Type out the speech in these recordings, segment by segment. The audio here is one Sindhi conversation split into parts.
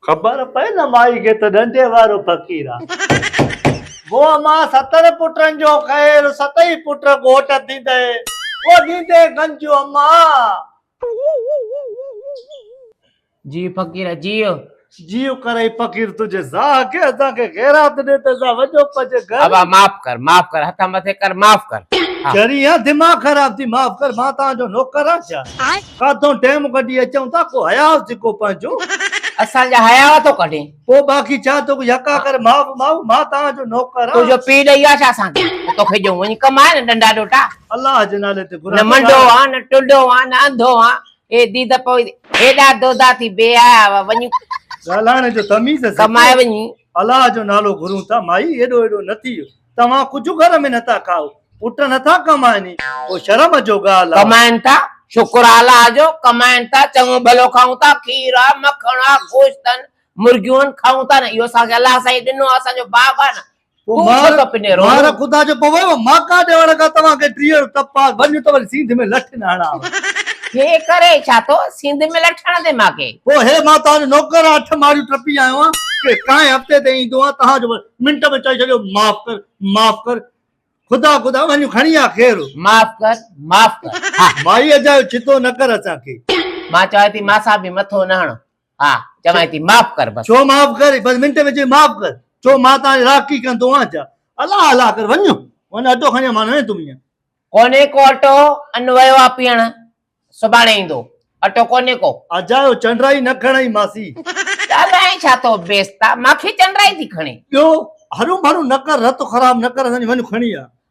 خبر پئي نه مائي کي ته ڏنڊي وارو فقير آ. وو امان ستن پٽن جو خير ستئي پٽ ڳوٽ ٿيندئي وو ڏيندي گنجون امان. جيء فقير جيء. جيء ڪرئي فقير تنهنجي زاهه کي اسان کي خيرات ڏي ته اسان وڃون پنهنجي گهر. ابا معاف ڪر معاف ڪر هٿ مٿي ڪر معاف ڪر. چري يا دماغ خراب ٿي معاف ڪر مان توهان جو نوڪر آهيان ڇا ڪاٿئون ٽيم ڪڍي اچئون ٿا ڪو حياء هجي ڪو پنهنجو. اسان جا حياء ٿو ڪڍين. پوء باقي ڇا توکي يڪا ڪري معاف ماء مان توهان جو نوڪر آهيان. تنهنجو پيء ڏئي ويو ڇا اسان کي ته توکي ڏيون وڃ ڪم آهي نه ڏنڊا ڏوٽا. الله جي نالي تي گهران. نه منڊو آهان نه ٽنڊو آهان نه انڌو آهان اي ديده پوء هيڏا دودا ٿي بي حياء هئا وڃي. ڳالهائڻ جو تميز سکو. ڪمائي وڃي. الله جو نالو گهرون ٿا. مائي ايڏو ايڏو نه ٿيء. توهان ڪجهه گهر ۾ نه ٿا کائو. پٽ نه ٿا ڪمائن ئي. پوء شرم جو ڳالهه آ. ڪمائن ٿا. شڪر آ الله جو. ڪمائن ٿا. چڱو ڀلو کائون ٿا. کير آ، مکڻ آ، گوشت آهن، مرغيون آهن، کائون ٿا نه. اهو اسان کي الله سائين ڏنو آ. اسان جو باغ آ نه. پوء مهر خدا جو پوء ماڪا ڏيوڻ کان توهان کي ٽيهر تپ پاس ڀڃ ته وري سينڌ ۾ لٺ نه هڻان. هي ڪري ڇا ٿو سينڌ ۾ لٺ هڻندين ماڪي. پوء هي مان توهان جو نوڪر آهيان اٺ ماڙيون ٽپي آيو آهيان ڪي ڪانء هفتي تي ايندو آهيان توهان جو منٽ ۾ چئي ڇڏيو معاف ڪر معاف ڪر خدا خدا وڃ کڻي آ خير. معاف ڪر معاف ڪر ها. مائي اجايو ڇتو نه ڪر اسان کي. مان چوان ٿي ماسا به مٿو نه هڻ ها چوانء ٿي معاف ڪر بس. ڇو معاف ڪر بس منٽ ۾ چوي معاف ڪر ڇو مان تان راکي ڪن ٿو آن ڇا الا الا ڪر وڃ وڃ اٽو کڻي آ مان نه ويندم ايئن. ڪونهي ڪو اٽو ان ويو آ پيئڻ سڀاڻي ايندو اٽو ڪونهي ڪو. اجايو چنڊرائي نه کڻئي ماسي. ڳالهائين ڇا ٿو بيستا مان کي چنڊرائي ٿي کڻي. ٻيو هرون ڀرون نه ڪر رت خراب نه ڪر اسان جي وڃ کڻي آ.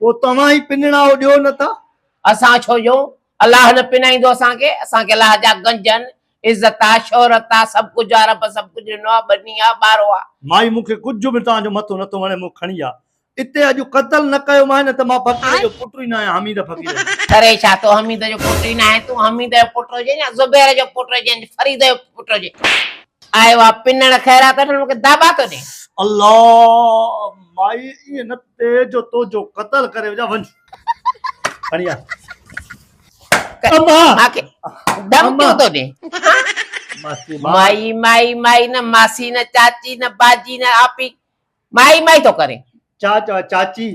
پوء توهان ئي پڃڻائو ڏيو نه ٿا. اسان ڇو ڏيون؟ الله نه پڃائيندو اسان کي؟ اسان کي الله جا گنج آهن، عزت آ، شهرت آ، سڀ ڪجهه آ، رب سڀ ڪجهه ڏنو آ، ٻني آ، ٻارو آ. مائي مون کي ڪجهه به توهان جو مٿو نه ٿو وڻي مون کڻي آ اتي اڄ قتل نه ڪيو مانء نه ته مان فقير جو پٽ ئي نه آهيان حميد فقير آهي. ڪري ڇا؟ تون حميد جو پٽ ئي نه آهين، تون حميد جو پٽ هجين يا زبير جو پٽ هجين يا فريد جو پٽ هجين آيو آ پڃڻ خيرات وٺڻ مون کي داٻا ٿو ڏين. الله مائي ائين نه. تي جو توجو قتل ڪري وجا ونج کڻي آ اما ماکي دم ڪيو تو ڏي مائي مائي مائي نه ماسي نه چاچي نه باجي نه آپي مائي مائي تو ڪري چا چا چاچي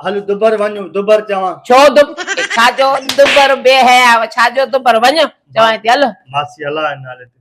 هل دبر ونج دبر چوا ڇو دب ڇا جو دبر بي هيا ڇا جو دبر ونج چوا تي هل ماسي الله نالي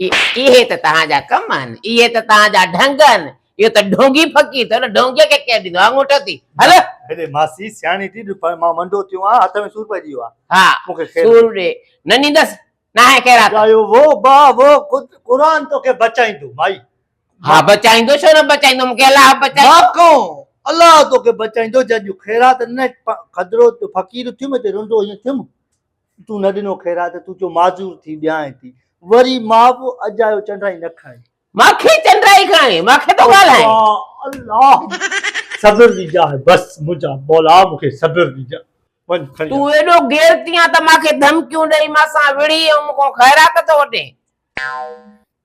اهي ته توهان جا ڪم آهن، اهي ته توهان جا ڍنگ آهن، اهو ته ڍونگي فقير ٿيو نه، ڍونگيء کي ڪير ڏيندو آڱوٺو ٿي هل. هيڏي ماسي سياڻي ٿي جو مان منڊو ٿيو آهيان، هٿ ۾ سور پئجي ويو آهي. ها، مون کي خير ڏي. سور ڏي، نه ڏيندس، ناهي خيرات. ڳايو وو با وو، خود قرآن توکي بچائيندو مائي. ها بچائيندو، ڇو نه بچائيندو، مون کي الله بچائيندو. مان ڪون، الله توکي بچائيندو، جنهن جون خيرات ڏنئي، کدرو ٿيو، فقير ٿيم، هتي رنڊو هيئن ٿيم، تون نه ڏنو خيرات، تون چيو معذور ٿي ڏيانء ٿي. وري ماء به اجايو چنڊائي نه کڻي. مان کي چنڊائي کڻي، مان کي ٿو ڳالهائين. اچا الله! صبر ڏجاء، بس منهنجا مولا مون کي صبر ڏجاء. وڃ کڻي اچ. تون ايڏو غيرتي آن ته مان کي ڌمڪيون ڏئي مان سان وڙهي ۽ مون کان خيرات ٿو وٺين.